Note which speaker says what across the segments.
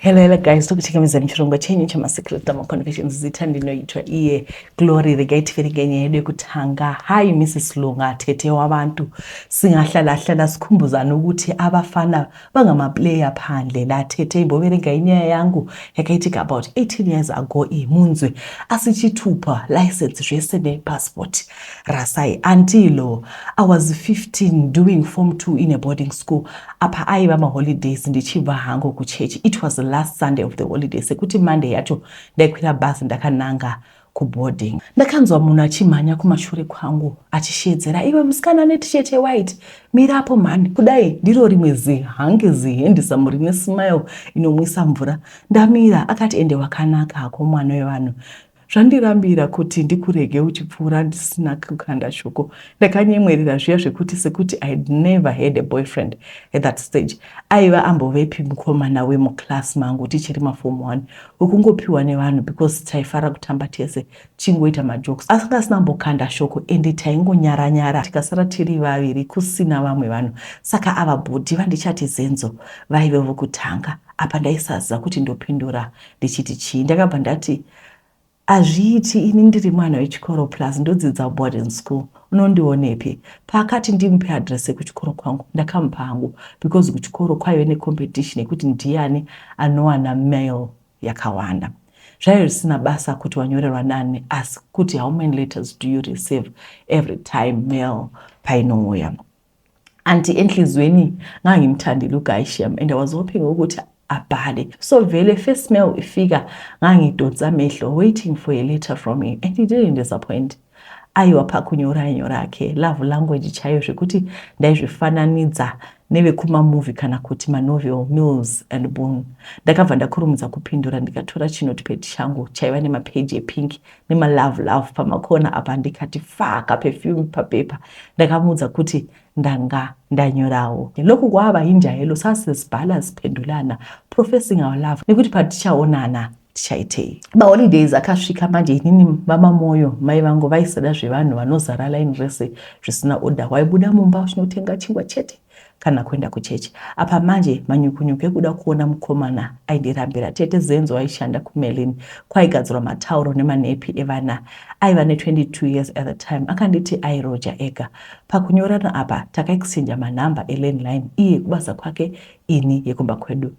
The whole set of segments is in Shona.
Speaker 1: Hello, hello guys, tokuchikamidzani chirongwa chenyu chemasecret tama conversations zita ndinoitwa iye Glory regai tiverenge nyaya yedu yekutanga. Hi Mrs Lunga, tete wabantu singahlala hlala sikhumbuzana ukuthi abafana bangamaplayer phandle la tete imboverenga inyaya yangu yakaitika about 18 years ago iyi munzwe asichitupa license zvese nepassport Rasai until I was 15 doing form 2 in a boarding school apa aiva maholidays ndichibva hangu kuchurch it was the last Sunday of the holiday sekuti Monday yacho ndaikwira bus ndakananga kuboarding ndakanzwa munhu achimhanya kumashure kwangu achishedzera iwe musikana ane t-shirt yewhite mirapo mhani kudai ndiro rimwe zihangi zihendisamu rine smile inomwisa mvura ndamira akati ende wakanaka hako mwana wevanhu Zvandirambira kuti ndikurege uchipfuura ndisina kukanda shoko. Ndakanyemwerera zviya zvekuti sekuti I had never had a boyfriend at that stage. Aiva ambovepi mukomana wemuclass mangu tichiri maform one wekungopiwa nevanhu because taifara kutamba tese tichingoita majokes asanga asina ambokanda shoko ende taingonyara nyara tikasara tiri vaviri kusina vamwe vanhu saka ava bhudhi vandichati zenzo vaive vokutanga apa ndaisaziva kuti ndopindura ndichiti chii ndakabva ndati hazviiti ini ndiri mwana wechikoro plus ndodzidza boarding school unondionepi paakati ndimupe adress yekuchikoro kwangu ndakamupa hangu because kuchikoro kwaive necompetition yekuti ndiyani anowana mail yakawanda zvaive zvisina basa kuti wanyorerwa nani asi kuti how many letters do you receive every time mail painouya anti enhliziyweni ngangimthandile uguy shem and i was hoping ukuthi abhale so vele first mail ifika ngangidonsa amehlo waiting for a letter from him and he didn't disappoint aiwa pakunyora nyora ake love language chaiyo zvekuti ndaizvifananidza nevekumamovie kana kuti manovel mills and boon ndakabva ndakurumidza kupindura ndikatora chinotipedi changu chaiva nemapeji epinki nemalove love pamakona apa ndikati faka perfume papepa ndakamuudza kuti ndanga ndanyorawo loku kwava hinja helo sasizibhala ziphendulana professing our love nekuti patichaonana tichaitei maholidays akasvika manje inini vamamoyo mai vangu vaisada zvevanhu vanozara line rese zvisina order waibuda mumba uchinotenga chingwa chete kana kuenda kuchechi. Apa manje manyukunyuku ekuda kuona mukomana aindirambira. Tete Zenzo aishanda kuMerlin kwaigadzirwa matauro nemanepi evana. Aiva ne22 years at the time. Akanditi airoja ega. Pakunyorana apa takaexchanger manhamba elandline iye kubasa kwake ini yekumba kwedu.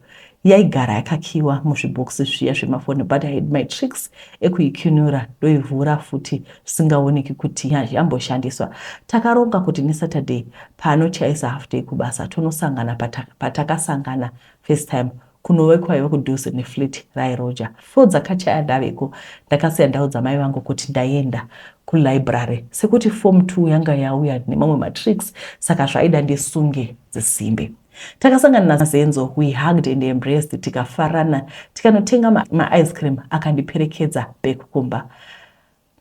Speaker 1: Yaigara yakakiiwa muzvibhokisi zviya zvemafoni but I had my tricks ekuikunura ndoivhura futi zvisingaoneki kuti yamboshandiswa. Takaronga kuti neSaturday paanochaisa half day kubasa tonosangana patakasangana first time kunove kwaiva kudhuze neflat raiRoger. Four dzakachaya ndaveko ndakasiya ndaudza mai vangu kuti ndaenda kulibrary sekuti form two yanga yauya nemamwe matricks saka zvaida ndisunge dzisimbe. Takasangana naSenzo, we hugged and embraced tikafarana tikanotenga maice cream akandiperekedza back kumba.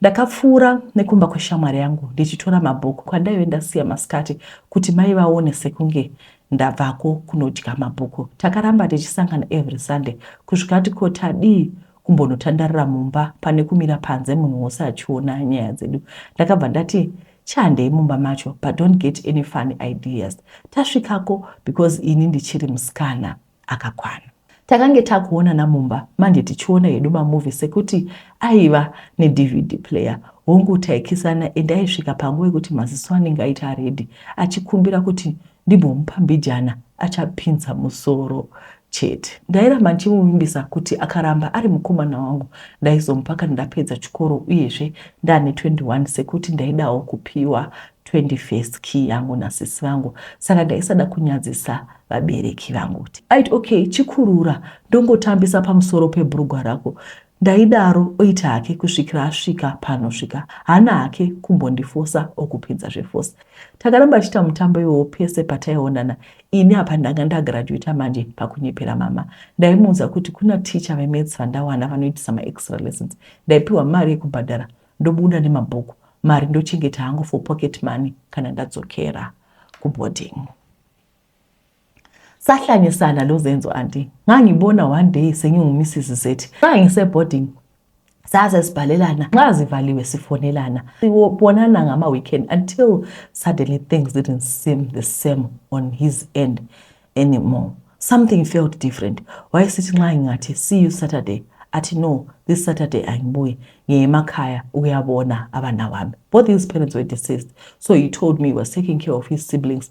Speaker 1: Ndakapfuura nekumba kweshamwari yangu ndichitora mabhuku kwandaive ndasiya masikati kuti mai vaone sekunge ndabvako kunodya mabhuku. Takaramba tichisangana every Sunday kusvika ati ko tadii kumbonotandarira mumba pane kumira panze munhu wose achiona nyaya dzedu. Ndakabva ndati Chandei mumba macho but don't get any funny ideas. Tasvikako because ini ndichiri musikana akakwana. Takange takuonana mumba manje tichiona hedu mamovie sekuti aiva neDVD player. Hongu taikisana and aisvika panguva yekuti maziso anenge aita red achikumbira kuti Ndimbomupa mbijana achapinza musoro chete. Ndairamba ndichimuvimbisa kuti akaramba ari mukomana wangu ndaizomupa kana ndapedza chikoro uyezve ndaane 21 sekuti ndaidawo kupiwa 21st key yangu nasisi vangu saka ndaisada kunyadzisa vabereki vangu. Aiti okay chikurura ndongotambisa pamusoro pebhurugwa rako Ndaidaro oita hake kusvikira asvika pano svika hana hake kumbondifosa okupinza zvefosa. Takaramba tichita mutambo iwowo pese pataionana ini apa ndanga ndagraduater manje pakunyepera mama. Ndaimuudza kuti kuna teacher vemaths vandawana vanoitisa maextra lessons ndaipiwa mari yekubhadhara ndobuda nemabhuku mari ndochengeta hangu for pocket money kana ndadzokera kuboarding. sahlanyisana lozenzo anti ngangibona one day senyungumisisi zethi ngangiseboarding saze sibhalelana nxa zivaliwe sifonelana sibonana ngama-weekend until suddenly things didn't seem the same on his end anymore something felt different wayesithi nxa ngingathi see you saturday athi no this saturday angibuyi ngiye emakhaya ukuyabona abana wami both his parents were deceased so he told me he was taking care of his siblings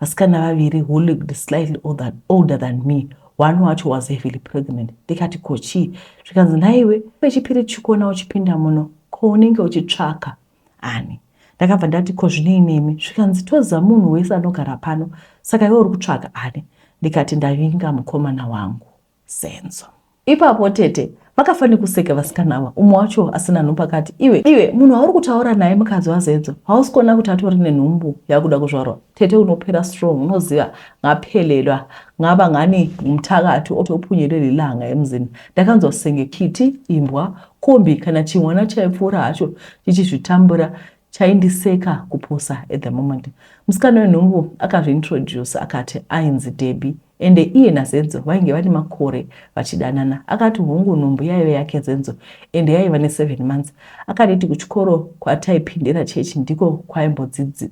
Speaker 1: vasikana vaviri who looked slightly older, older than me one wacho was heavily pregnant ndikati ko chii zvikanzi nhaiwe pechipiri chikona uchipinda muno ko unenge uchitsvaka ani ndakabva ndati ko zvinei nemi zvikanzi toziva munhu wese anogara pano saka iwe uri kutsvaka ani ndikati ndavinga mukomana wangu Senzo. Ipapo tete vakafa nekuseka vasikana ava umwe wacho asina nhumbu akati iwe iwe munhu wauri kutaura naye mukadzi wazenzo hausi kuona kuti atori nenhumbu yakuda kuzvarwa tete unopera strong unoziva ngaphelelwa ngava ngani mutakati otopunyelela ilanga emzini ndakanzwa senge kiti imbwa kombi kana chimwana chaipfuura hacho chichizvitambura chaindiseka kupusa at the moment musikana wenhumbu akazviintroduce akati ainzi debi Ende iye naZenzo vainge vane makore vachidanana. Akati hongu nhumbu yaive yake Zenzo ende yaiva ne seven months. Akanditi kuchikoro kwataipindira church ndiko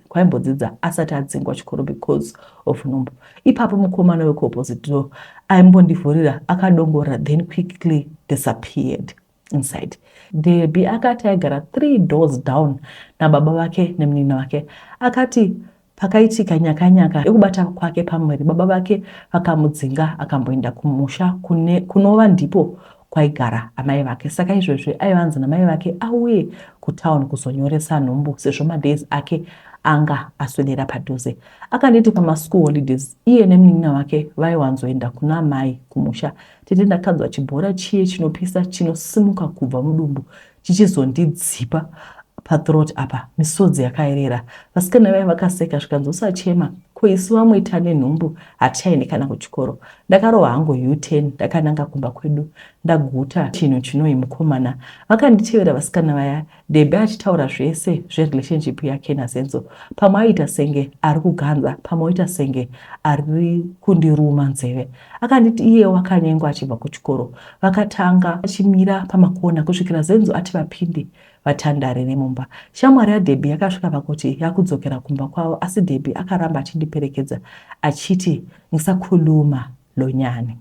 Speaker 1: kwaimbodzidza asati adzingwa chikoro because of nhumbu. Ipapo mukomana weku opposite door aimbondivhurira akadongorera then quickly disappeared. inside. Debbie akati aigara three doors down nababa vake nemunin'ina wake. Akati pakaitika nyakanyaka yekubata kwake pamwiri, baba vake vakamudzinga akamboenda kumusha kune kunova ndipo kwaigara amai vake. Saka izvezvi aiva anzi namai vake auye kutown kuzonyoresa nhumbu sezvo madays ake anga aswedera padhuze. Akanditi pamaschool holidays iye nemunin'ina wake vaiwanzoenda kuna amai kumusha Tete ndakanzwa chibhora chiye chinopisa chinosimuka kubva mudumbu chichizondidzipa pathroat apa misodzi yakaerera vasikana vaye vakaseka zvikanzosachema ko isu vamwe tane nhumbu hatichaende kana kuchikoro ndakarova hangu u10 ndakananga kumba kwedu ndaguta chinhu chinoi mukomana vakanditevera vasikana vaya Debbie achitaura zvese zverelationship yake naSenzo. Pamwe aiita senge ari kuganza, pamwe oita senge ari kundiruma nzeve. Akanditi iye wakanyengwa achibva kuchikoro. Vakatanga vachimira pamakona kusvikira Zenzo ati vapinde vatandare nemumba. Shamwari yaDebbie yakasvika pakuti yakudzokera kumba kwavo asi Debbie akaramba achindiperekedza achiti ngisakhuluma lonyani.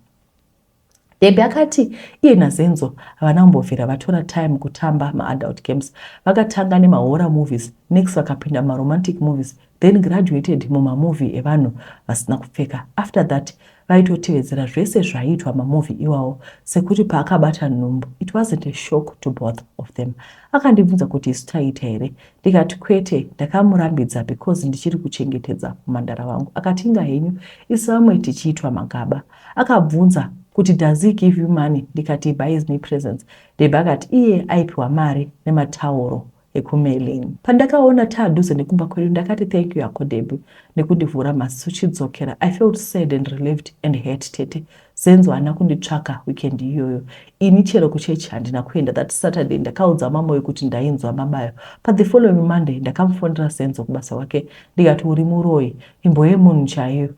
Speaker 1: Debbie akati iye naZenzo havana kumbobvira vatora time kutamba maadult games. Vakatanga nemahorror movies, next vakapinda mumaromantic movies then graduated mumamovie evanhu vasina kupfeka. After that vaitotevedzera zvese zvaiitwa mamovie iwawo sekuti paakabata nhumbu it wasn't a shock to both of them. Akandibvunza kuti isu taiita here ndikati kwete, ndakamurambidza because ndichiri kuchengetedza mhandara vangu. Akati inga henyu isu vamwe tichiitwa magaba. Akabvunza kuti does he give you money ndikati he buys me presents Babe akati iye aipiwa mari nematauro ekuMelin. Pandakaona taadhuze nekumba kwedu ndakati thank you hako Debbie nekundivhura maziso chidzokera I felt sad and relieved and hurt tete Zenzo haana kunditsvaka weekend iyoyo ini chero kuchechi handina kuenda that Saturday ndakaudza mamoyo kuti ndainzwa mabayo but the following Monday ndakamufonera Zenzo kubasa kwake ndikati uri muroyi imbo yemunhu chaiyo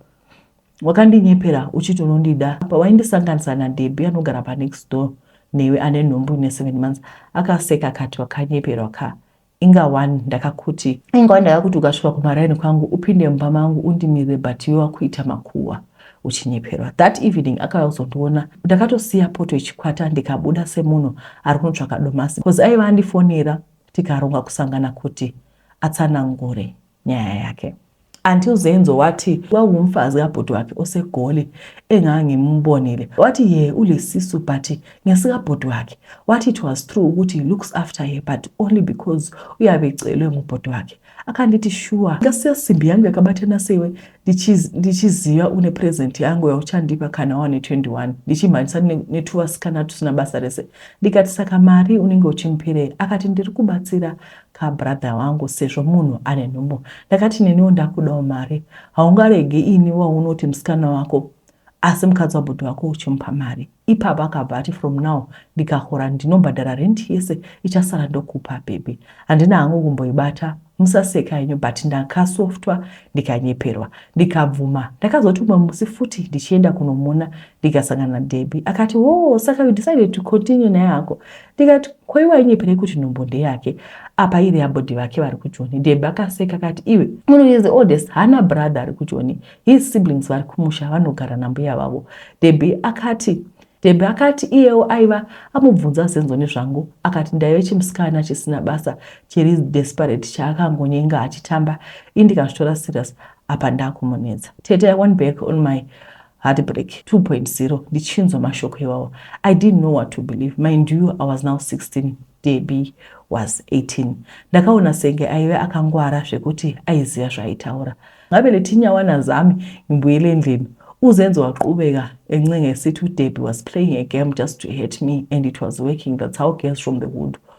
Speaker 1: wakandinyepera uchiti unondida pawaindisanganisa nadeby anogara panext door newe ane nhumbu ine seven months akaseka akati wakanyeperwa ka inga one ndakakuti inga one ndakakuti ukasvika kumaraini kwangu upinde mumba mangu undimirire but iwe wakuita makuhwa uchinyeperwa that evening akauya kuzondiona ndakatosiya poto ichikwata ndikabuda semunhu ari kunotsvaka domasi bcause aiva andifonera tikaronga kusangana kuti atsanangure nyaya yake until Zenzo wathi wawumfazi kabhuti wakhe osegoli engangimbonile wathi ye ulesisu but ngesikabhuti wakhe wathi it was true ukuthi looks after her but only because uyabe ecelwe ngubhuti wakhe akandithi shuwa ngasiyasimbi yangu yakabathana sewe ndichiziva une present yangu yauchandipa kana wane 21 ndichimhanyisa nethuva sikanatu sina basa rese ndikati saka mari unenge uchimupirei akati ndiri kubatsira ka brother wangu sezvo munhu ane nhumbu ndakati neniwo ndakudawo mari haungarege ini waunoti musikana wako asi mukadzi wabhudhi wako uchimupa mari ipapo akabva ati from now ndikahora ndinobhadhara rent yese ichasara ndokupa bhebhi handina hangu kumboibata musaseka henyu but ndakasoftwa ndikanyeperwa ndikabvuma ndakazoti umwe musi futi ndichienda kunomona ndikasangana nadhebhi akati wo oh, saka you decided to continue naye hako ndikati ko iwe ainyepere kuti nhumbu ndeyake apa iri yabody vake vari kujoni deb akaseka akati iwe muno is the oldest hana brother ari kujoni his siblings vari kumusha vanogara nambuya vavo deb akati deb akati iyewo aiva amubvunza zenzo nezvangu akati ndaive chimusikana chisina basa chiri desperate chaakangonyenga achitamba indikazvitora serious apa ndakumunetsa tete i went back on my Heartbreak 2.0 ndichinzwa mashoko iwawo. I didn't know what to believe. Mind you, I was now 16. Debbie was 18. Ndakaona senge aive akangwara zvekuti aiziva zvaaitaura. Ngavele tinyawa nazami imbuyele endlini. Uzenzo waqhubeka encenga esithi uDebbie was playing a game just to hurt me and it was working. That's how girls from the hood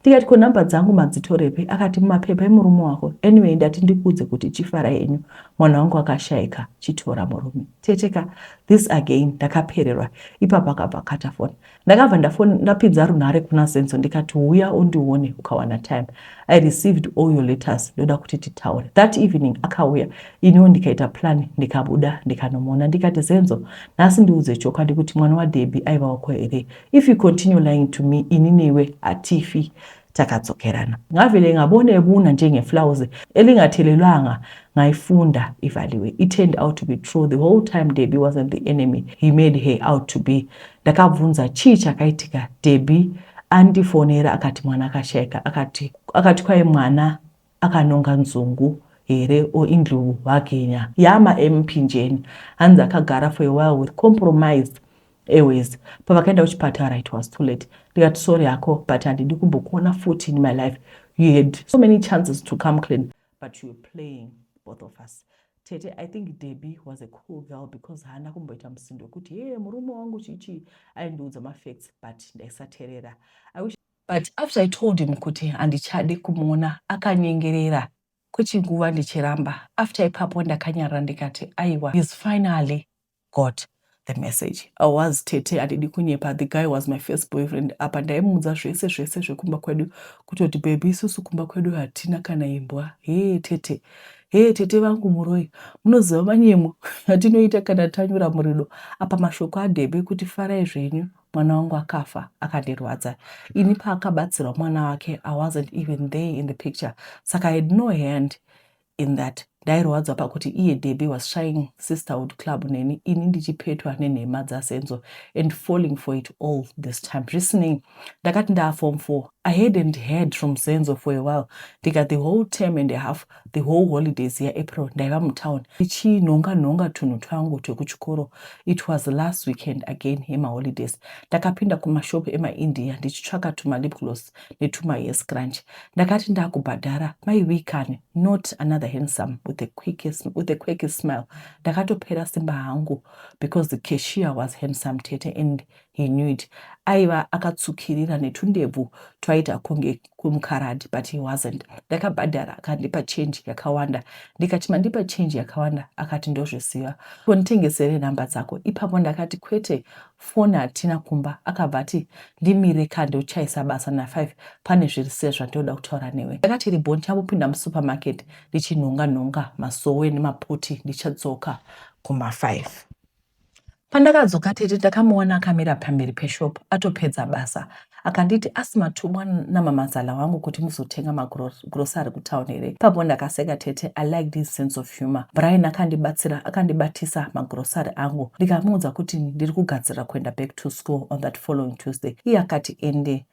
Speaker 1: Ndikati ko number dzangu madzitorepi akati mumapepa emurume wako anyway ndati ndikuudze kuti chifara henyu mwana wangu akashaika chitora murume tete ka this again ndakapererwa ipapo akabva akata foni ndakabva ndafoni ndapinza runhare kuna zenzo ndikati huya undione ukawana time i received all your letters ndoda kuti titaure that evening akauya iniwo ndikaita plan ndikabuda ndikanomuona ndikati zenzo nhasi ndiudze chokwadi kuti mwana wadebi aiva wako here If you continue lying to me ini newe hatifi takadzokerana. Ngavele ngabone ebuna njengeflawuzi elingathelelwanga ngayifunda ivaliwe. It turned out to be true the whole time Debbie wasn't the enemy he made her out to be. Ndakabvunza chii chakaitika Debbie andifonera akati mwana akashaika akati akati kwaye mwana Akanonga nzungu here or indlovu hake nya. Yaa ma MP njeni hanzi akagara for a while with compromised airways pavakaenda kuchipatara it was too late ndikati sorry hako but handidi kumbokuona futi in my life you had so many chances to come clean but you were playing both of us tete i think debbie was a cool girl because haana kumboita musindo wekuti hee murume wangu chichii aindiudza mafacts but ndaisaterera But after I told him kuti handichade kumuona akanyengerera kwechinguva ndichiramba. After ipapo ndakanyarara ndikati aiwa he's finally got the message. I was tete handidi kunyepa the guy was my first boyfriend apa ndaimuudza zvese zvese zvekumba kwedu kutoti baby isusu kumba kwedu hatina kana imbwa hee tete hee tete vangu muroi munoziva manyemo atinoita kana tanyura murido apa mashoko adebe kuti farai zvenyu mwana wangu akafa akandirwadza ini paakabatsirwa mwana wake i wasn't even there in the picture saka i had no hand in that ndairwadzwa pakuti iye debi was shying sisterhood club neni ini ndichipetwa nenhema dzasenzo and falling for it all this time zvisinei ndakati ndaafom four i hadn't heard from senzo for a while ndika the whole term and a half The whole holidays yaApril ndaiva mutown ndichinhonga nhonga tunhu twangu twekuchikoro. It was last weekend again yemaholidays. Ndakapinda kumashop emaIndia ndichitsvaka tumalip gloss netumahair scrunch. Ndakati ndakubhadhara mai Wee kani, not another handsome with a quickest, with a quirky smile. Ndakatopera simba hangu because the cashier was handsome tete and He knew it. Aiva akatsvukirira netundebvu twaita kunge kumkaradi but he wasn't. Ndakabhadhara akandipa change yakawanda ndikati mandipa change yakawanda akati ndozviziva ko nditengesere number dzako ipapo ndakati kwete phone hatina kumba akabva ati ndimire ka ndochaisa basa na 5 pane zviri se zvandoda kutaura newe ndakati ribo ndichamupinda musupermarket ndichinhonga nhonga masowe nemaputi ndichadzoka kuma 5 Pandakadzoka tete ndakamuona akamira pamberi peshop atopedza basa akanditi asi matumwa namamazala wangu kuti muzotenga magrosary kutown here ipapo ndakaseka tete i like this sense of humor brian akandibatsira akandibatisa magrosary angu ndikamuudza kuti ndiri kugadzirira kuenda back to school on that following tuesday iye akati ende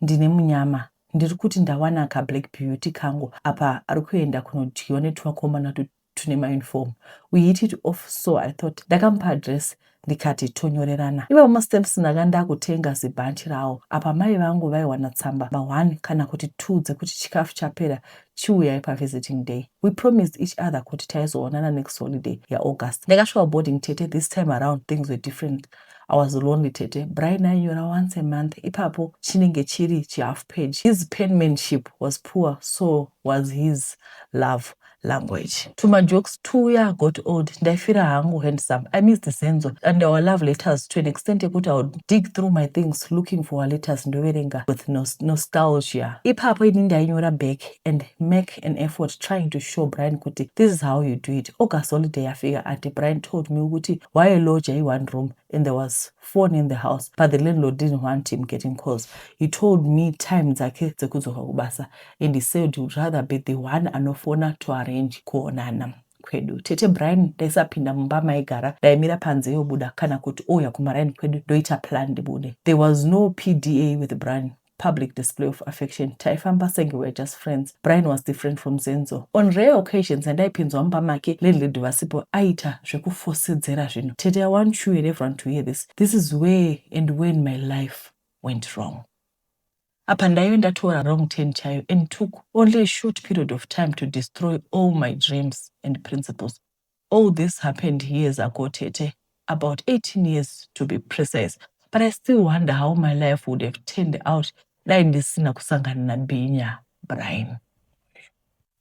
Speaker 1: Ndine munyama ndiri kuti ndawana ka black beauty kangu apa ari kuenda kunodyiwa netwakomana tune mauniform we hit it off so i thought ndakamupa address ndikati tonyorerana iva mastamps ndanga ndakutenga zibhanchi rawo apa mai vangu vaiwana tsamba ma one kana kuti two dzekuti chikafu chapera chiuyai pavisiting day we promised each other kuti taizoonana next holiday yaaugust ndakasvika boarding tete this time around things were different I was lonely tete. Brian ainyora once a month ipapo chinenge chiri chihalf page. His penmanship was poor so was his love language. To my jokes two yeah got old ndaifira hangu handsome. I missed Zenzo and our love letters to an extent yekuti I would dig through my things looking for our letters ndoverenga with nostalgia. Ipapo ini ndainyora back and make make an effort trying to show Brian kuti this is how you do it. August holiday yafika ati Brian told me kuti waye lodger i one room and there was phone in the house but the landlord didn't want him getting calls. He told me time dzake dzekudzoka kubasa and he said he would rather be the one anofona to arrange kuonana kwedu tete brian ndaisapinda mumba maigara ndaimira panze yobuda kana kuti ouya kumaraini kwedu ndoita plan ndibude there was no pda with brian public display of affection taifamba senge we're just friends brian was different from zenzo on rare occasions andaipinzwa mumba make landlady vasipo aita zvekufosedzera zvinhu tete i want you and everyone to hear this this is where and when my life went wrong apa ndaive ndatora wrong ten chayo and took only a short period of time to destroy all my dreams and principles All this happened years ago tete, about 18 years to be precise but I still wonder how my life would have turned out dai ndisina kusangana naBhinya Brian.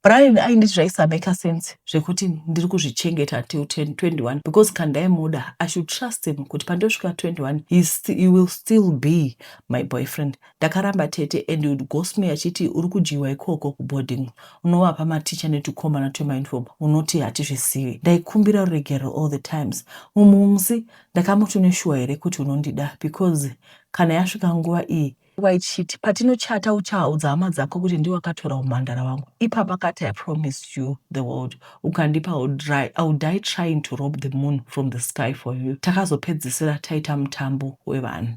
Speaker 1: Brian ainditi zvaisameka sense zvekuti ndiri kuzvichengeta till 21 because kandaimuda I should trust him kuti pandosvika 21 he, st he will still be my boyfriend Ndakaramba tete and he would ghost me achiti uri kudyiwa ikoko kuboarding unovapa mateacher netukomana twemauniform unoti hatizvizivi. Ndaikumbira ruregerero all the times. Mumwe musi ndakamuti une shuwa here kuti unondida because kana yasvika nguva iyi waichiti patinochata uchaudza hama dzako kuti ndiwe wakatora umhandara wangu ipapa kati i promised you the world ukandipa i would die trying to rob the moon from the sky for you takazopedzisira taita mutambo wevanhu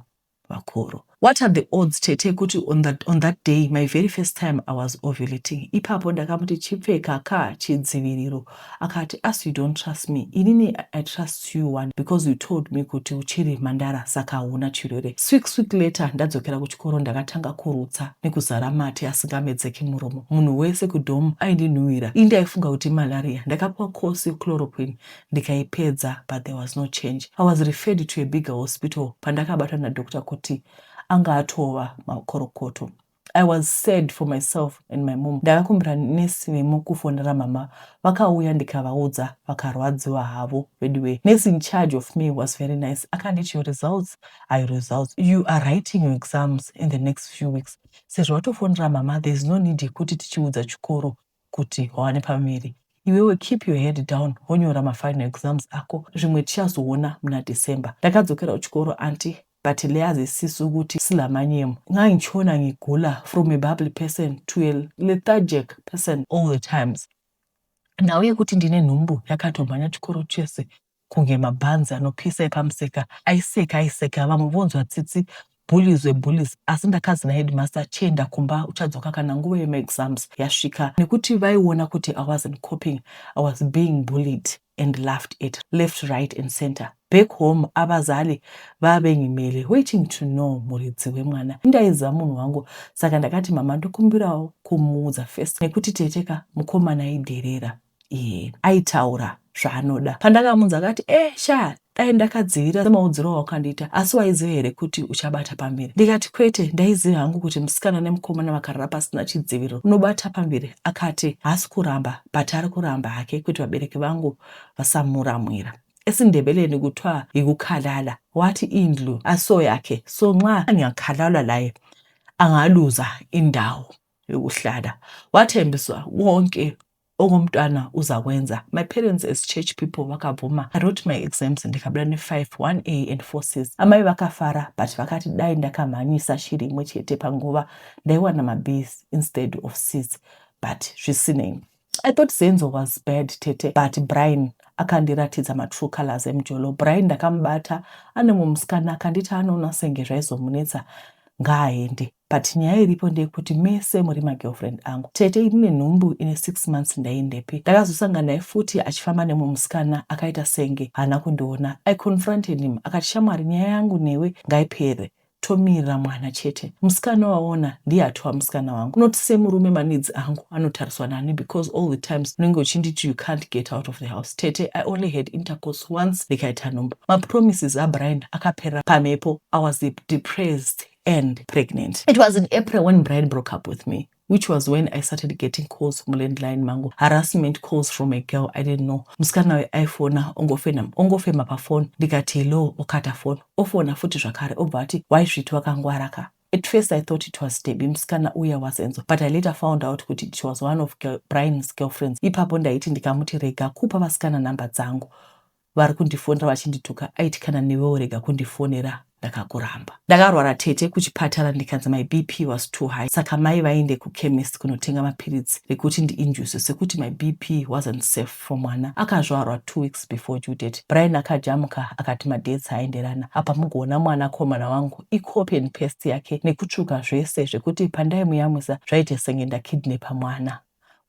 Speaker 1: vakuru. What are the odds tete kuti on that, on that day my very first time I was ovulating. Ipapo ndakamuti chipfeka ka chidziviriro akati as you don't trust me inini I trust you one because you told me kuti uchiri mandara saka hauna chirwere. Sweek sweek later ndadzokera kuchikoro ndakatanga kurutsa nekuzara mate asingamedzeki muromo. Munhu wese kudom aindinhuwira. Ini ndaifunga kuti malaria. Ndakapiwa course yechloroquine ndikaipedza but there was no change. I was referred to a bigger hospital pandakabatwa nadoctor kuti anga atova makorokoto. I was sad for myself and my mom. Ndakakumbira nesi vemo kufonera mama vakauya ndikavaudza vakarwadziwa havo veduwe. Nesi in charge of me was very nice akanditi your results are your results. You are writing your exams in the next few weeks. Sezvo watofonera mama there is no need yekuti tichiudza chikoro kuti wawane pamiri iwewe keep your head down wonyora mafinal exams ako zvimwe tichazoona muna December ndakadzokera kuchikoro aunty but leazi sis ukuti silamanyem ngangichiona ngigula from a bubbly person to a lethargic person all the times nhau yekuti ndine nhumbu yakatomhanya chikoro chese kunge mabhanzi anopisa epamuseka aiseka aiseka vamwe vonzwa tsitsi bullies we bullies asi ndakanzi naheadmaster chienda kumba uchadzoka kana nguva yemaexams yasvika nekuti vaiona kuti i wasn't coping i was being bullied and laughed at left right and center back home avazali vave nyimele waiting to know muridzi wemwana indaiziva munhu wangu saka ndakati mama ndokumbirawo kumuudza first nekuti teteka mukomana idherera iye aitaura zvaanoda. Pandakamunza akati eh shaa dai ndakadzivira semaudziro awakandiita asi waiziva here kuti uchabata pamberi ndikati kwete ndaiziva hangu kuti musikana nemukomana vakarara pasina chidziviriro unobata pamberi akati haasi kuramba but ari kuramba hake kuti vabereki vangu vasamuramwira esindebeleni kutwa yikukhalala wathi indlu aso yakhe so nxa angakhalalwa laye angaluza indawo yokuhlala wathembiswa wonke Uku mtwana uzakwenza. My parents as church people vakabvuma. I wrote my exams ndikabuda ne 5 1A and 4 Cs. Amai vakafara but vakati dai ndakamhanyisa shiri imwe chete panguva ndaiwana ma Bs instead of Cs but zvisinei. I thought Zenzo was bad tete but Brian akandiratidza matrue colors emjolo. Brian ndakamubata ane mumsikana akanditi anoona senge zvaizomunetsa ngaaende. But nyaya iripo ndeyekuti mese muri magirlfriend angu. Tete ini nenhumbu ine six months ndaiendepi? Ndakazosangana naye futi achifamba nemumwe musikana akaita senge haana kundiona. I confronted him akati shamwari nyaya yangu newe ngaipere tomirira mwana chete. Musikana waona ndiye atova musikana wangu not semurume maneeds angu anotariswa nani because all the times unenge uchinditi you can't get out of the house. Tete I only had intercourse once ndikaita nhumbu. Mapromises aBrian akaperera pamhepo. I was depressed and pregnant. It was in April when Brian broke up with me which was when I started getting calls from landline mangu, harassment calls from a girl I didn't know. Musikana we aifona ongofena ongofema pafoni ndikati hello, okata foni ofona futi zvakare obva ati why sviti wakangwara ka At first I thought it was Debbie musikana uya was Enzo but I later found out kuti it was one of girl, Brian's girlfriends. Ipapo ndaiti ndikamuti rega kupa vasikana number dzangu vari kundifonera vachindituka aiti kana newewo rega kundifonera ndakakuramba ndakarwara tete kuchipatara ndikanzi my bp was too high saka mai vaende kuchemist kunotenga mapiritsi rekuti ndiinjuse sekuti my bp wasn't safe for mwana akazvarwa two weeks before due date brian akajamuka akati madates aenderana apa mugoona mwana komana wangu icopy and paste yake nekutsvuka zvese zvekuti pandaimuyamwisa zvaite senge ndakidnepa mwana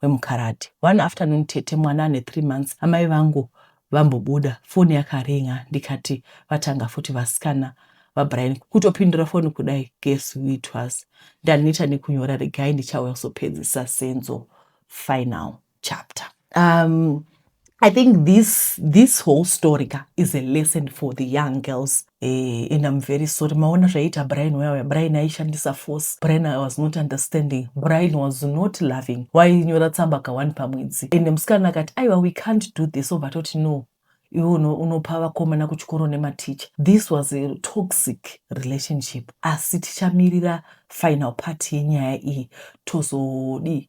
Speaker 1: wemukaradhi. One afternoon tete mwana ane three months amai vangu vambobuda foni yakaringer ndikati vatanga futi vasikana vaBrian kutopindura foni kudai guess who it was ndaneta nekunyora regai ndichauya kuzopedzisa Senzo final chapter um, I think this, this whole story ka is a lesson for the young girls eh, and I'm very sorry maona zvaiita Brian wewe Brian aishandisa force Brian was not understanding Brian was not loving wainyora tsamba ka one pamwedzi and musikana akati aiwa we can't do this obva toti no iwe unopa vakomana kuchikoro nematicha this was a toxic relationship asi tichamirira final part yenyaya iyi tozodii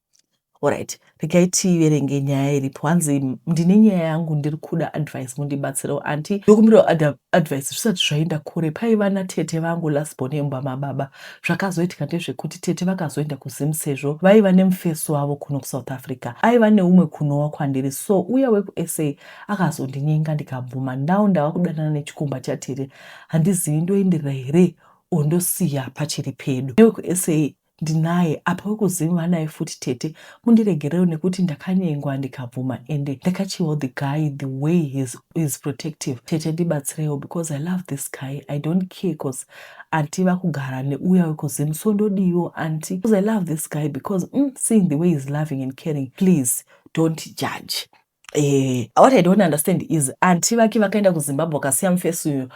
Speaker 1: Alright, regai tiverenge nyaya iripo. Hanzi ndine nyaya yangu ndiri kuda advice mundibatsirewo anti ndokumbirawo advice zvisati zvaenda kure paiva natete vangu last born yemumba mababa zvakazoitika ndezvekuti tete vakazoenda kuzim sezvo vaiva nemufesi wavo kuno kusouth africa aiva neumwe kunowa kwandiri so uya wekusa akazondinyenga ndikabvuma now ndava kudanana nechikomba chatete handizivi ndoenderera here ondosiya pachiri pedu newekusa ndinaye apa wekuzivanaye futi tete mundiregerewo nekuti ndakanyengwa ndikabvuma ende ndakachiwo the guy the way his, his protective tete ndibatsirewo because i love this guy i don't care cause anti vakugara neuya wekuzim so ndodiiwo anti because i love this guy because mm, seeing the way he's loving and caring please don't judge Eh, what I don't understand is anti vake vakaenda kuZimbabwe vakasiya mufesi uyo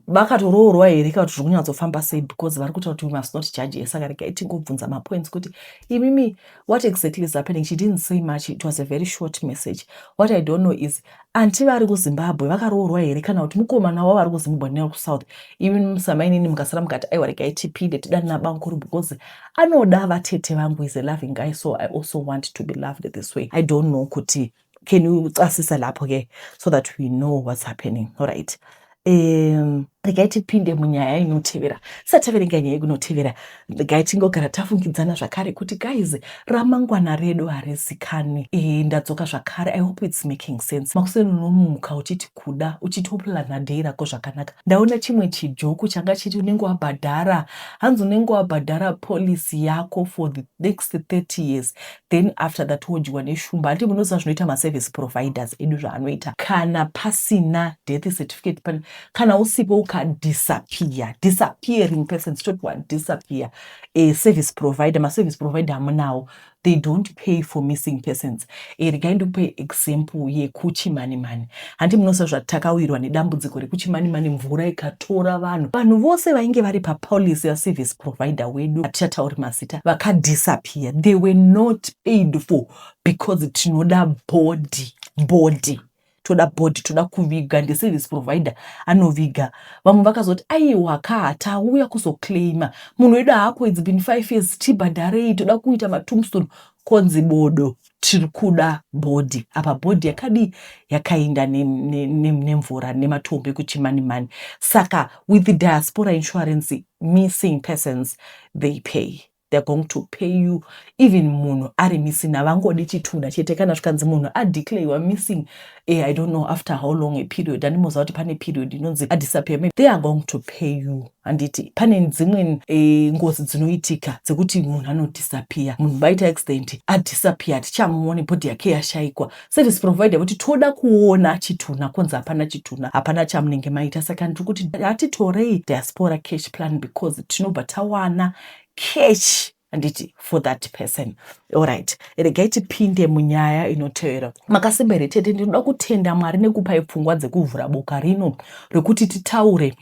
Speaker 1: vakatoroorwa here kana kuti zviri kunyatsofamba sei because vari kutaura kuti we must not judge her saka regai tingobvunza mapoints kuti imimi what exactly is happening she didn't say much it was a very short message what I don't know is anti vari kuZimbabwe vakaroorwa here kana kuti mukomana wavo vari kuZimbabwe nekuSouth imimi musamainini mukasara mukati aiwa regai tipinde tidanana bamukuru because Anoda vatete vangu is a loving guy so I also want to be loved this way. I don't know kuti can you casisa lapho ke so that we know what's happening all right um regai tipinde munyaya inotevera sataverenga nyaya ikunotevera regai tingogara tafungidzana zvakare kuti guys ramangwana redu harizikani e, ndadzoka zvakare i hope its making sense makuseni unomuka uchiti kuda uchitoplanner day rako zvakanaka ndaona chimwe chijoku changa chiti unenge wabhadhara hanzi unenge wabhadhara policy yako for the next 30 years then after that wodyiwa neshumba handi munoziva zvinoita maservice providers edu zvaanoita kana pasina death certificate pan kana usipo ukadisappear disappearing person totwa disappear e, service provider maservice provider amunawo they don't pay for missing persons e, regai ndikupe example yekuchimanimani hanti munosa zvati takawirwa nedambudziko rekuchimanimani mvura ikatora vanhu vanhu vose vainge vari papolicy yaservice provider wedu hatichatauri mazita vakadisappear they were not paid for because tinoda body body toda body toda kuviga ndeservice provider anoviga vamwe vakazoti aiwa kaa tauya kuzoclaima munhu wedu haako its been five years tibhadharei toda kuita matumstone konzi bodo tiri kuda bhodhi apa bhodhi yakadii yakainda nemvura nematombo ekuti mani mani saka with the diaspora insurance missing persons they pay they're going to pay you even munhu ari missing havangodi chitunda chete kana zvikanzi munhu adeclare youare missing eh, i don't know after how long a period andimoziva kuti pane period inonzi adisappear maybe they are going to pay you handiti pane dzimwe eh, ngozi dzinoitika dzekuti munhu anodisappear munhu vaita accident adisappear hatichamuone bhodhi yake yashaikwa service provider kuti toda kuona chituna kunzi hapana chituna hapana chamunenge maita saka ndiri kuti hatitorei diaspora cash plan because tinobva tawana catch handiti for that person allright regai tipinde munyaya inotevera makasimba here tete ndinoda kutenda mwari nekupai pfungwa dzekuvhura boka rino rekuti titaure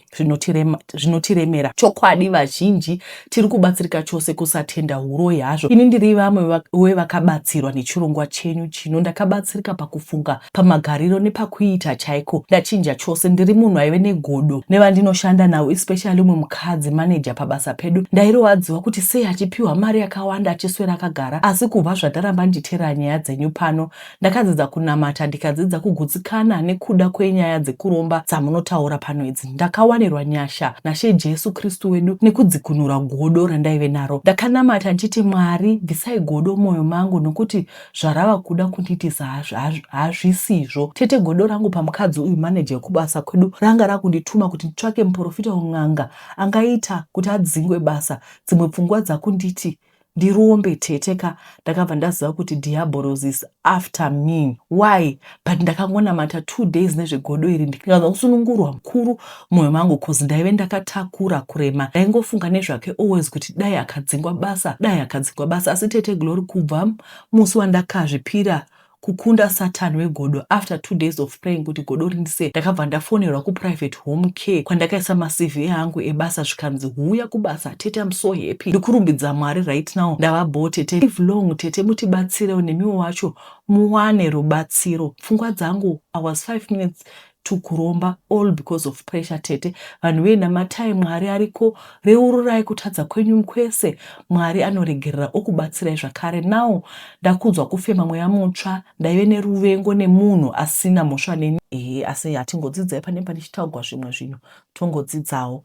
Speaker 1: zvinotiremera chokwadi vazhinji tiri kubatsirika chose kusatenda huroi hazvo ini ndiri vamwe wevakabatsirwa nechirongwa chenyu chino ndakabatsirika pakufunga pamagariro nepakuita chaiko ndachinja chose ndiri munhu aive negodo nevandinoshanda navo especially umwe mukadzi manager pabasa pedu ndairowadziwa kuti sei achipiwa mari yakawanda achiswera akagara asi kubva zvataramba nditeera nyaya dzenyu pano ndakadzidza kunamata ndikadzidza kugutsikana nekuda kwenyaya dzekuromba dzamunotaura pano idzi ndakawanirwa nyasha nashe jesu kristu wedu nekudzikunura godo randaive naro ndakanamata ndichiti mwari bvisai godo mwoyo mangu nokuti zvarava kuda kundiitisa hazvisizvo tete godo rangu pamukadzi uyu manager yekubasa kwedu ranga rakundituma kuti nditsvake muporofita un'anga angaita kuti adzingwe basa dzimwe pfungwa dzakunditi ndirombe tete ka ndakabva ndaziva kuti diaborosis after me why but ndakangonamata two days nezvegodo iri ndikanzwa kusunungurwa mukuru mumwoyo mangu bcause ndaive ndakatakura kurema ndaingofunga nezvake always kuti dai akadzingwa basa dai akadzingwa basa asi tete glory kubva musi wandakazvipira kukunda satan wegodo after two days of praying kuti godo rindise ndakabva ndafonerwa kuprivate home care kwandakaisa macv ehangu ebasa zvikanzi huya kubasa tete am so happy ndikurumbidza mwari right now ndava bho tete live long tete mutibatsirewo nemiwo wacho muwane rubatsiro pfungwa dzangu I was five minutes to kuromba all because of pressure tete vanhu vee namatai mwari ariko reururai kutadza kwenyu mkwese mwari anoregerera okubatsirai zvakare now ndakunzwa kufema mweya mutsva ndaive neruvengo nemunhu asina mhosva neni ehe asi hatingodzidzai pane panichitaugwa zvimwe zvinhu tongodzidzawo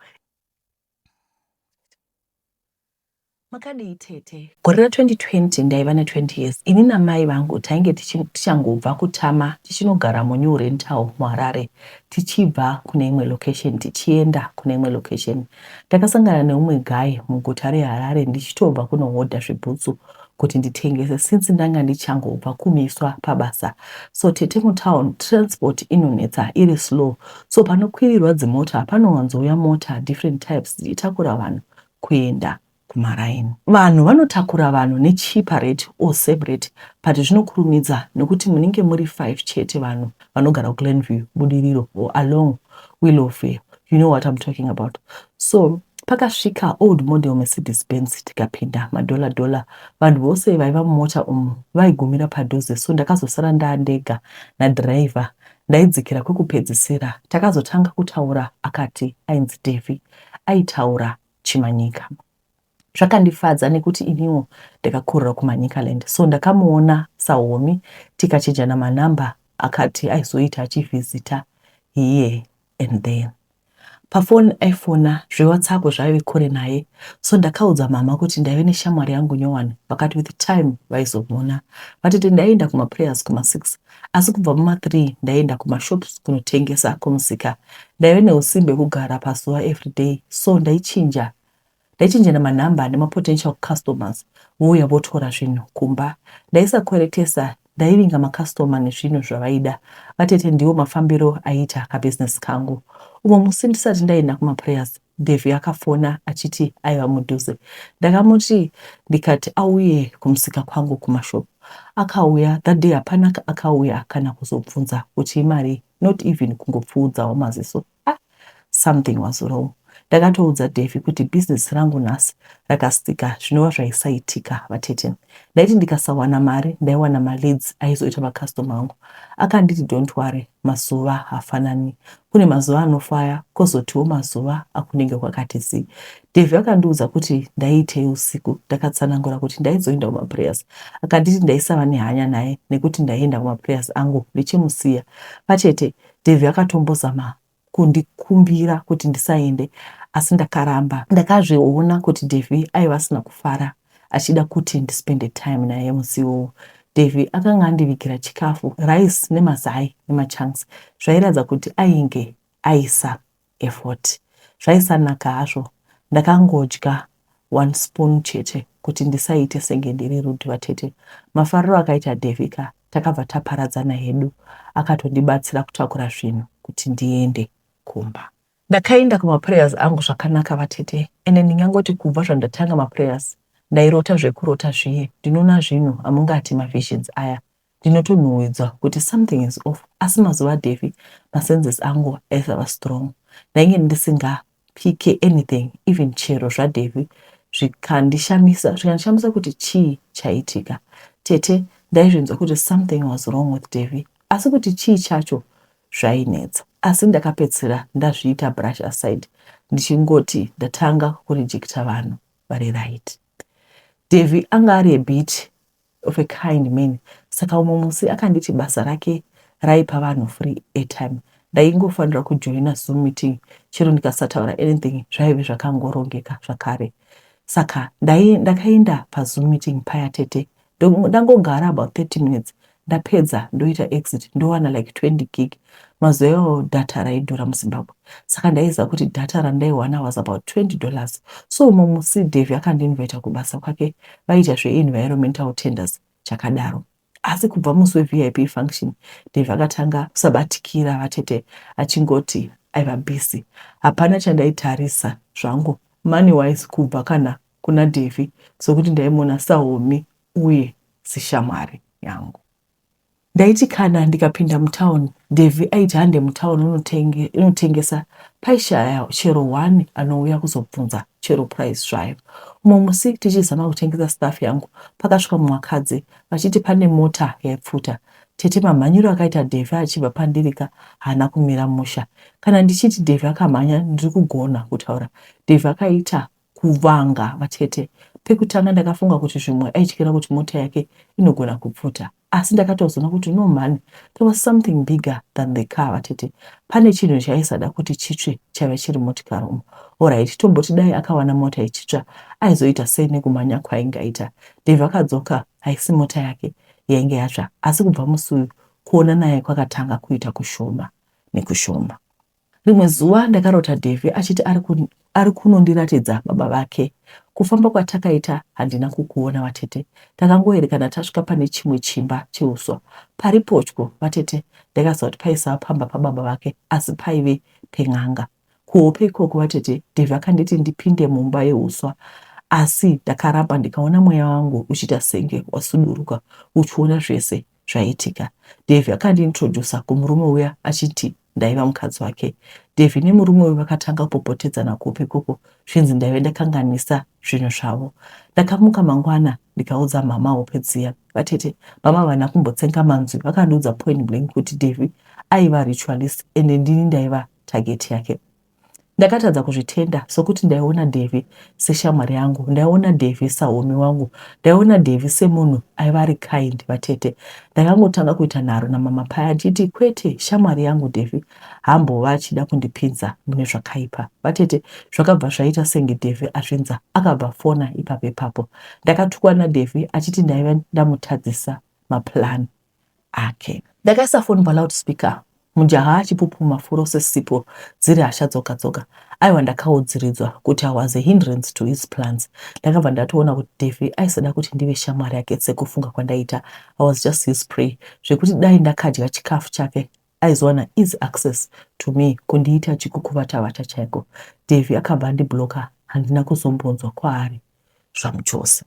Speaker 1: makadii tete gore ra 2020 ndaiva ne 20 years ini namai vangu tainge tichangobva kutama tichinogara munew rental muharare tichibva kune imwe location tichienda kune imwe location ndakasangana neumwe guy muguta reharare ndichitobva kunohodha zvibhutsu kuti nditengese since ndanga ndichangobva kumiswa pabasa so tete mutown transport inonetsa iri slow so panokwirirwa dzimota panowanzouya mota different types dzichitakura vanhu kuenda kumaraini vanhu vanotakura vanhu nechipa rate or same rate but zvinokurumidza nekuti munenge muri 5 chete vanhu vanogara kuglenview budiriro or along willowfair you know what I'm talking about so pakasvika old model mercedes benz tikapinda madhola dhola vanhu vose vaiva mumota umu vaigumira padhuze so ndakazosara ndaandega nadhiraivha ndaidzikira kwekupedzisira takazotanga kutaura akati ainzi devi aitaura chimanyika Zvakandifadza nekuti iniwo ndakakurira kuManicaland so ndakamuona sahomie tikachenjana manumber akati aizoita achivhizita here and then pafoni aifona zveWhatsApp zvaive kure naye so ndakaudza mama kuti ndaive neshamwari yangu nyowani vakati with time vaizomona vatete ndaienda kumaprayers kuma6 asi kubva muma3 ndaienda kumashops kunotengesa kumusika ndaive neusimbe kugara pazuva everyday so ndaichinja ndaichenjera manumber nemapotential customers vouya votora zvinhu kumba. Ndaisakweretesa ndaivinga macustomer nezvinhu zvavaida. Vatete ndiwo mafambiro aiita kabusiness kangu. Umwe musi ndisati ndaenda kumaprayers Davy akafona achiti aiva mudhuze. Ndakamuti ndikati auye kumusika kwangu kumashop. Akauya that day hapana akauya kana kuzobvunza kuti imari not even kungopfuudzawo maziso. Ah, something was wrong. Ndakatoudza Davy kuti business rangu nhasi rakastika zvinova zvaisaitika vatete. Ndaiti ndikasawana mari ndaiwana maleads aizoita macustom angu. Akanditi don't worry, mazuva hafanani. Kune mazuva anofaya kozotiwo mazuva akunenge kwakati zii. Davy akandiudza kuti ndaiitei usiku. Ndakatsanangura kuti ndaizoenda kumaprayers. Akanditi ndaisava nehanya naye nekuti ndaienda kumaprayers angu ndichimusiya. Vatete, Davy akatombozama kundikumbira kuti ndisaende asi ndakaramba. Ndakazviona kuti Davy aiva asina kufara achida kuti ndispende time naye musi iwowo. Davy akanga andivigira chikafu, rice nemazai nemachunks zvairatidza kuti ainge aisa effort zvaisanaka hazvo ndakangodya one spoon chete kuti ndisaite senge ndiri rude vatete mafariro akaita Davy ka takabva taparadzana hedu akatondibatsira kutakura zvinhu kuti ndiende kumba ndakaenda kumaprayers angu zvakanaka vatete ende ndingangoti kubva zvandatanga maprayers ndairota zvekurota zviye ndinona zvinhu amungati mavisions aya Ndinotonhuwidza kuti something is off asi mazuva aDevy masenses angu aisava strong. Ndainge ndisinga pike anything even chero zvaDevy zvikandishamisa zvikandishamisa kuti chii chaiitika. Tete ndaizvinzwa kuti something was wrong with Devy asi kuti chii chacho zvainetsa asi ndakapedzisira ndazviita brush aside ndichingoti ndatanga kurejecta vanhu vari right. Devy anga ari a bit of a kind man saka umwe musi akanditi basa rake raipa vanhu free airtime ndaingofanira kujoina zoom meeting chero ndikasataura anything zvaive zvakangorongeka zvakare saka ndai ndakaenda pazoom meeting paya tete ndangogara about 30 minutes ndapedza ndoita exit ndowana like 20 gig Mazuva iwayo data raidhura muZimbabwe saka ndaiziva kuti data randaiwana was about 20 dollars. So umwe musi Davy akandinvita kubasa kwake vaiita zveEnvironmental Tenders chakadaro. Asi kubva musi weVIP function Davy akatanga kusabatikira vatete achingoti aiva busy. Hapana chandaitarisa zvangu money wise kubva kana kuna Davy sokuti ndaimuona sahomie uye sishamwari yangu. Ndaiti kana ndikapinda mutown Davy aiti hande mutown unotenge, unotengesa paishaya chero one anouya kuzobvunza chero price zvayo. Umwe musi tichizama kutengesa staff yangu pakasvika mumwe akadzi vachiti pane mota yaipfuta. Tete mamhanyiro akaita Davy achibva pandirika haana kumira musha. Kana ndichiti Davy akamhanya ndiri kugona kutaura Davy akaita kuvanga vatete. Pekutanga ndakafunga kuti zvimwe aityira kuti mota yake inogona kupfuta asi ndakatozoona kuti no mhani there was something bigger than the car vatete. Pane chinhu chaisada kuti chitsve chaive chiri motikari umu. Horaiti tomboti dai akawana mota ichitsva aizoita sei nekumhanya kwaingaita. Dave akadzoka haisi mota yake yainge yatsva asi kubva musi uyu kuona naye kwakatanga kuita kushoma nekushoma. Rimwe zuva ndakarota Davy achiti ari, ku, ari kunondiratidza baba vake. Kufamba kwatakaita handina kukuona vatete. Takangoerekana tasvika pane chimwe chimba cheuswa. Pari potyo vatete ndakaziva kuti paisava pamba pababa vake asi paive pen'anga. Kuhope ikoko vatete Davy akanditi ndipinde mumba yeuswa asi ndakaramba ndikaona mweya wangu uchiita senge wasuduruka uchiona zvese zvaiitika. Davy akandiintroducer kumurume uya achiti ndaiva mukadzi wake. Davy nemurume uyu vakatanga kupopotedzana kupi ikoko zvinzi ndaive ndakanganisa zvinhu zvavo. Ndakamuka mangwana ndikaudza mhama hope dziya. Vatete, mama havana kumbotsenga manzwi vakandiudza point blank kuti Davy aiva ritualist ende ndini ndaiva target yake. Ndakatadza kuzvitenda sokuti ndaiona Davy seshamwari yangu, ndaiona Davy sahomie wangu, ndaiona Davy semunhu aiva ari kind. Vatete ndakangotanga kuita nharo namama paya achiti kwete shamwari yangu Davy hambova achida kundipinza mune zvakaipa. Vatete zvakabva zvaita senge Davy azvinza akabva fona ipapo ipapo. Ndakatukwa naDavy achiti ndaiva ndamutadzisa maplan. ake. Ndakaisa foni paloudspeaker mujaha achipupuma furo sesipo dziri hasha dzoga dzoga. Aiwa ndakaudziridzwa kuti I was a hindrance to his plans. Ndakabva ndatoona kuti Davy aisada kuti ndive shamwari yake sekufunga kwandaita. I was just his prey zvekuti dai ndakadya chikafu chake aizowana easy access to me kundiita chikukuvata vata chaiko. Davy akabva andiblocker handina kuzombonzwa kwaari zvamuchose.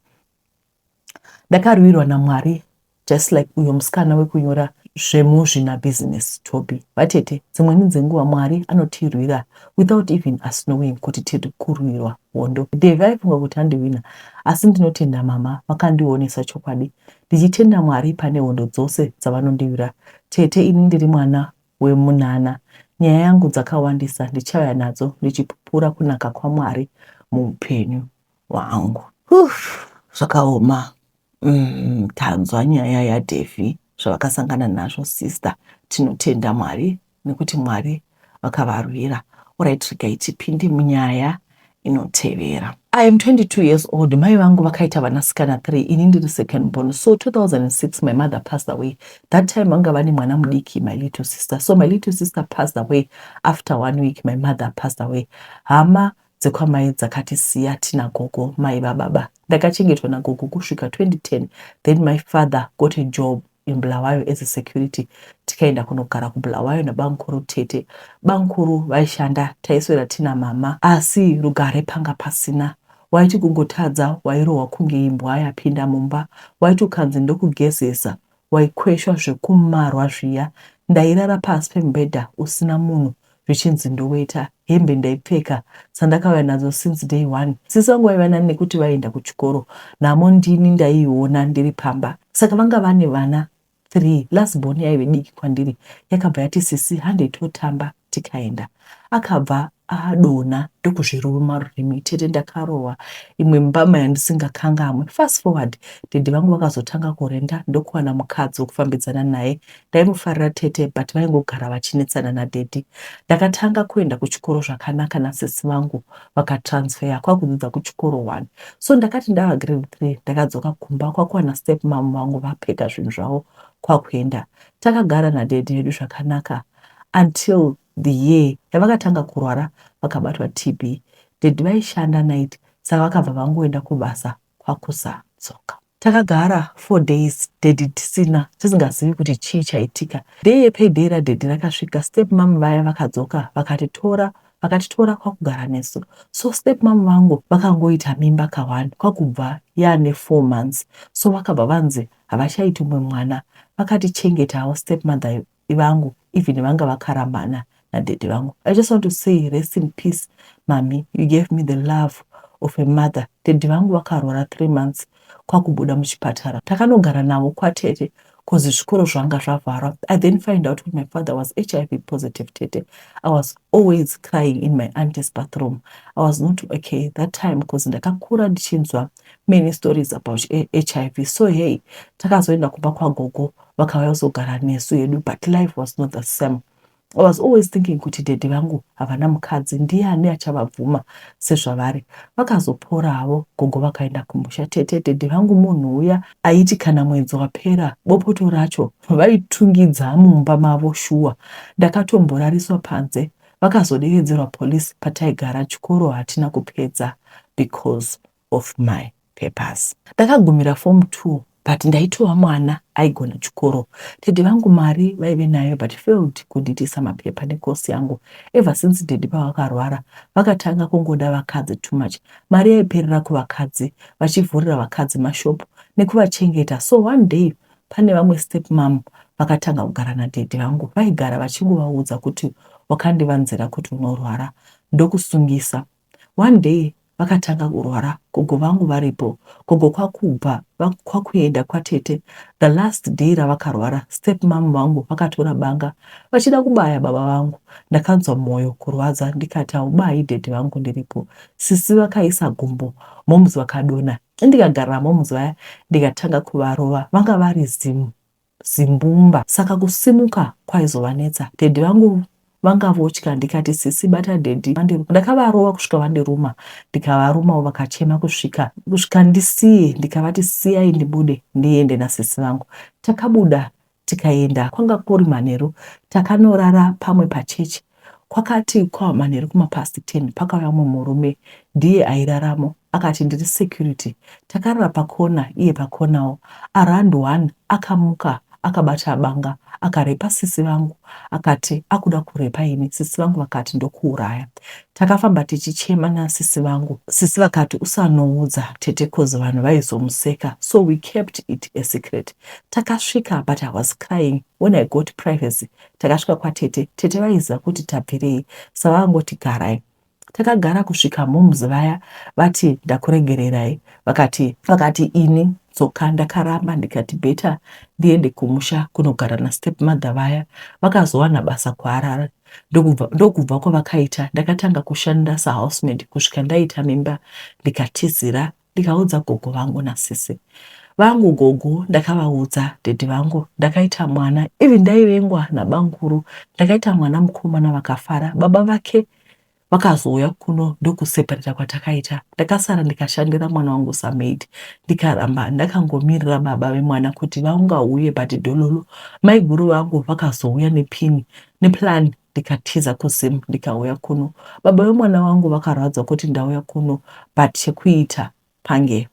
Speaker 1: Ndakarwirwa naMwari just like uyo musikana wekunyora zvemuzvina business Toby. Vatete, dzimweni dzenguva Mwari anotirwira without even us knowing kuti tiri kurwirwa hondo. Davy aifunga kuti andiwina asi ndinotenda mama vakandionesa chokwadi. Ndichitenda Mwari pane hondo dzose dzavanondiwira. Tete, ini ndiri mwana wemunana. Nyaya yangu dzakawandisa ndichauya nadzo ndichipupura kunaka kwaMwari muupenyu. wangu Uuff zvakaoma umm tanzwa nyaya yaDevy zvavakasangana nazvo sister tinotenda Mwari nekuti Mwari vakavarwira alright regai tipinde munyaya inotevera. I am 22 years old mai vangu vakaita vanasikana three ini ndiri second born so 2006 my mother passed away that time vanga vane mwana mudiki my little sister so my little sister passed away after one week my mother passed away hama dzekwamai dzakatisiya tina gogo mai vababa ndakachengetwa nagogo kusvika 2010 then my father got a job in Bulawayo as a security tikaenda kunogara kuBulawayo nabamkuru tete bamkuru vaishanda taiswera tina mama asi rugare panga pasina waiti kungotadza wairohwa kunge imbwa yapinda mumba waiti ukanzi ndokugezesa waikweshwa zvekumarwa zviya ndairara pasi pemubhedha usina munhu zvichinzi ndoweta hembe ndaipfeka dzandakauya nadzo since day one sisi vangu vaiva nani nekuti vaienda kuchikoro nhamo ndini ndaiiona ndiri pamba saka vanga vane vana three last born yaive diki kwandiri yakabva yati sisi handei totamba tikaenda akabva adonha ndokuzviruma rurimi tete ndakarohwa imwe mbama yandisingakangamwe fast forward dede vangu vakazotanga kurenda ndokuwana mukadzi wekufambidzana naye ndaimufarira tete but vaingogara vachinetsana nadedi ndakatanga kuenda kuchikoro zvakanaka nasisi vangu vakatransfeya kwakudzidza kuchikoro one so ndakati ndava grade three ndakadzoka kumba kwakuwana step mamu vangu vapega zvinhu zvavo kwakuenda takagara nadedi yedu zvakanaka until the year yavakatanga kurwara vakabatwa TB. Dad vaishanda night saka vakabva vangoenda kubasa kwakusadzoka. Takagara four days daddy tisina tisingazivi kuti chii chaitika. Day yepayday radaddy rakasvika stepmom vaya vakadzoka vakatitora vakatitora kwakugara nesu. So stepmom vangu vakangoita mimba ka one kwakubva yaane four months so vakabva vanzi havachaiti umwe mwana vakatichengeta avo stepmother vangu even vanga vakaramana nadaddy vangu i just want to say rest in peace mami you gave me the love of a mother daddy vangu vakarwara three months kwakubuda muchipatara takanogara navo kwatete bcause zvikoro zvanga zvavharwa i then find out kuti my father was hiv positive tete i was always crying in my aunties bathroom i was not okay that time bcause ndakakura ndichinzwa many stories about hiv so hey takazoenda kumba kwagogo kwa vakauya kuzogara nesu hedu but life was not the same I was always thinking kuti daddy vangu havana mukadzi ndiani achavabvuma sezvavari vakazopora havo gogo vakaenda kumusha tete daddy vangu munhu uya aiti kana mwedzi wapera bopoto racho vaitungidza mumba mavo shuwa ndakatomborariswa panze vakazoderedzerwa police pataigara chikoro hatina kupedza because of my papers. Ndakagumira form two but ndaitova mwana aigona chikoro. Daddy vangu mari vaive nayo but failed kundiitisa mapepa necourse yangu. Ever since daddy pavakarwara vakatanga kungoda vakadzi too much. Mari yaiperera kuvakadzi vachivhurira vakadzi mashop nekuvachengeta so one day pane vamwe step mom vakatanga kugara nadaddy vangu vaigara vachingovaudza kuti wakandivanzira kuti unorwara ndokusungisa. One day vakatanga kurwara gogo vangu varipo gogo kwakubva kwakuenda kwatete the last day ravakarwara step mom vangu vakatora banga vachida kubaya baba vangu ndakanzwa moyo kurwadza ndikati haubayi dad vangu ndiripo sisi vakaisa gumbo moms vakadona ndikagarira moms vaya ndikatanga kuvarova vanga vari zimu zimbumba saka kusimuka kwaizovanetsa. Daddy vangu vanga votya ndikati sisi bata daddy vandiruma ndakavarova kusvika vandiruma ndikavarumavo vakachema kusvika kusvika ndisiye ndikavati siyai ndibude ndiende nasisi vangu takabuda tikaenda kwanga kuri manheru takanorara pamwe pachechi Kwakati kwava manheru kuma past ten pakauya umwe murume ndiye airaramo akati ndiri security takarara pacorner iye pacornerwo around one akamuka akabata banga akarepa sisi vangu akati akuda kurepa ini sisi vangu vakati ndokuuraya takafamba tichichema nasisi vangu sisi vakati usanoudza tete coz vanhu vaizomuseka so we kept it a secret takasvika but i was crying when i got privacy Takasvika kwatete, tete vaiziva kuti tabvirei savangoti garai. Takagara kusvika moms vaya vati ndakuregererai vakati vakati ini dzoka ndakaramba ndikati better ndiende kumusha kunogara nastepmother vaya vakazowana basa kuharare ndokubva ndokubva kwavakaita ndakatanga kushandira sahousemate kusvika ndaita mimba ndikatizira ndikaudza gogo vangu nasisi vangu gogo ndakavaudza dhedhi vangu ndakaita mwana even ndaivengwa nabanguru ndakaita mwana mukomana vakafara baba vake vakazouya kuno ndokuseparita kwatakaita ndakasara ndikashandira mwana wangu samaid ndikaramba ndakangomirira baba vemwana kuti vaungauye but dololo maiguru vangu vakazouya nepini neplan ndikatiza kuZim ndikauya kuno. Baba vemwana wangu vakarwadzwa kuti ndauya kuno but chekuita pange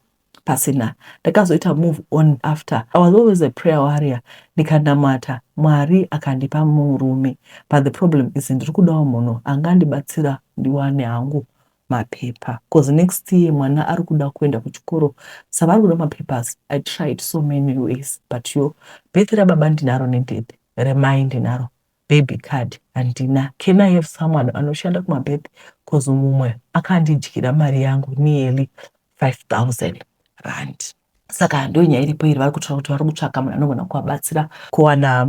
Speaker 1: pasina. Ndakazoita move on after. I was always a prayer warrior ndikanamata Mwari akandipa murume but the problem is ndiri kudawo munhu angandibatsira ndiwane hangu mapepa bcause next year mwana ari kuda kuenda kuchikoro savari kuda mapapers i tried so many ways but yo birth rababa ndinaro nedede remai ndinaro baby card handina can I have someone anoshanda kumabirth coz mumwe akandidyira mari yangu nearly 5000 rand saka ndonyaya iripo iri vari kutaura kuti vari kutsvaka munhu anogona kuvabatsira kuwana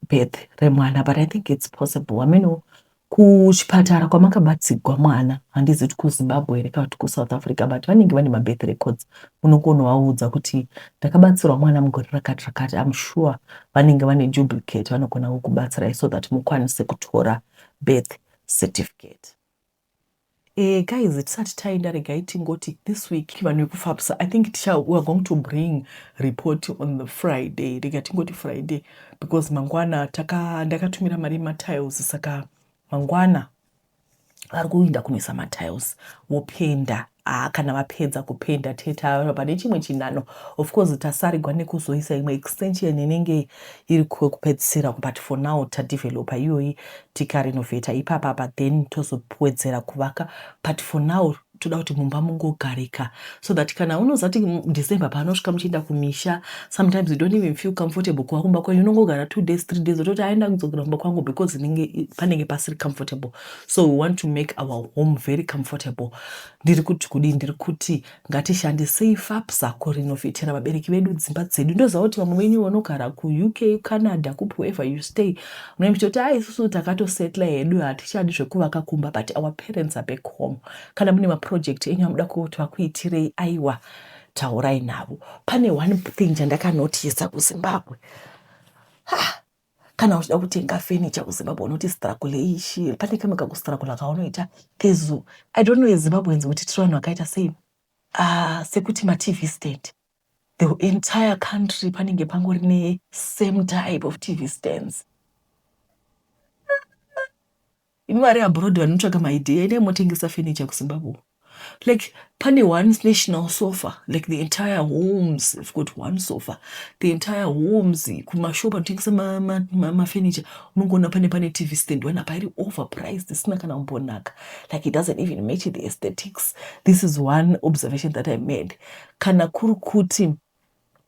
Speaker 1: birth remwana but I think it's possible hameno kuchipatara kwamakabatsigwa mwana handizi kuti kuzimbabwe here kana kuti kuSouth Africa but vanenge vane mabirth records unokonovaudza kuti ndakabatsirwa mwana mugore rakati rakati am sure vanenge vane duplicate vanogona kukubatsirai so that mukwanise kutora birth certificate Eh, guys tisati taenda regai tingoti this week vanhu vekufapsa i think ticha we are going to bring report on the friday rega tingoti friday because mangwana taka ndakatumira mari matiles saka mangwana vari kuinda kunoisa matiles vopenda aa ah, kana vapedza kupenda tete ava pane chimwe chinano of course tasarigwa nekuzoisa imwe extension inenge iri kwekupedzisira but for now tadevelopa iyoyi tikarenovheta ipapapa then tozopwedzera kuvaka but for now toda kuti mumba mungogarika so that kana unozati december paanosvika muchienda kumisha sometimes you don't even feel comfortable kuva kumba kwenyu unongogara two days three days ototi aenda kudzokera kumba kwangu because inenge panenge pasiri comfortable so we want to make our home very comfortable ndiri kuti kudii ndiri kuti ngatishandisei fapsa kurinovhetera vabereki vedu dzimba dzedu ndoziva kuti vamwe venyu vanogara kuuk canada kupi wherever you stay Mune muchitoti a isusu takatosetla hedu hatichadi zvekuvaka kumba but our parents are back home kana mune maproject enyu amuda kuti vakuitirei aiwa taurai navo pane one thing chandakanotisa kuzimbabwe ha kana uchida kutenga furniture kuzimbabwe unoti struggle ishi pane kamwe kakustruggle kaunoita kezu i don't know ezimbabweans kuti tiri vanhu vakaita sei uh, sekuti matv stand the entire country panenge pangori ne same type of tv stands imi vari abroad vanotsvaga maidea ine motengesa furniture kuzimbabwe like pane one national sofa like the entire homes have got one sofa the entire homes kumashop anotengesa mafurniture ma, ma, ma unongoona pane pane tv stand one apa iri overpriced isina kana kumbonaka like it doesn't even match the aesthetics this is one observation that i made kana kuri kuti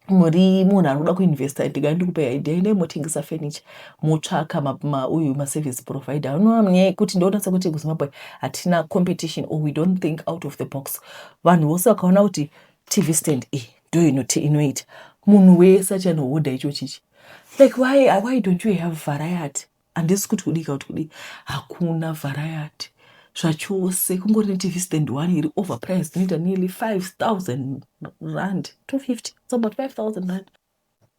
Speaker 1: muri munhu ari kuda kuinvesta ndigai ndikupai idea endai motengesa furniture motsvaka uyu maservice provider anoamnyaya kuti ndonatsa kuti kuzimbabwe hatina competition or we don't think out of the box vanhu vose vakaona kuti tv stand iyi ndo inoita munhu wese achanohodha icho chichi like why, why don't you have variety handisi kuti kudii kauti kudii hakuna variety zvachose kungori netv stand one iri over price inoita nearly 5000 rand 250 it's about 5000 rand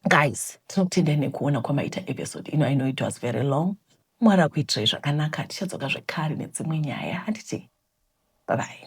Speaker 1: guys tinokutendai nekuona kwamaita episode ino i know it was very long mwari akuitirai zvakanaka tichadzoka zvekare nedzimwe nyaya handiti babai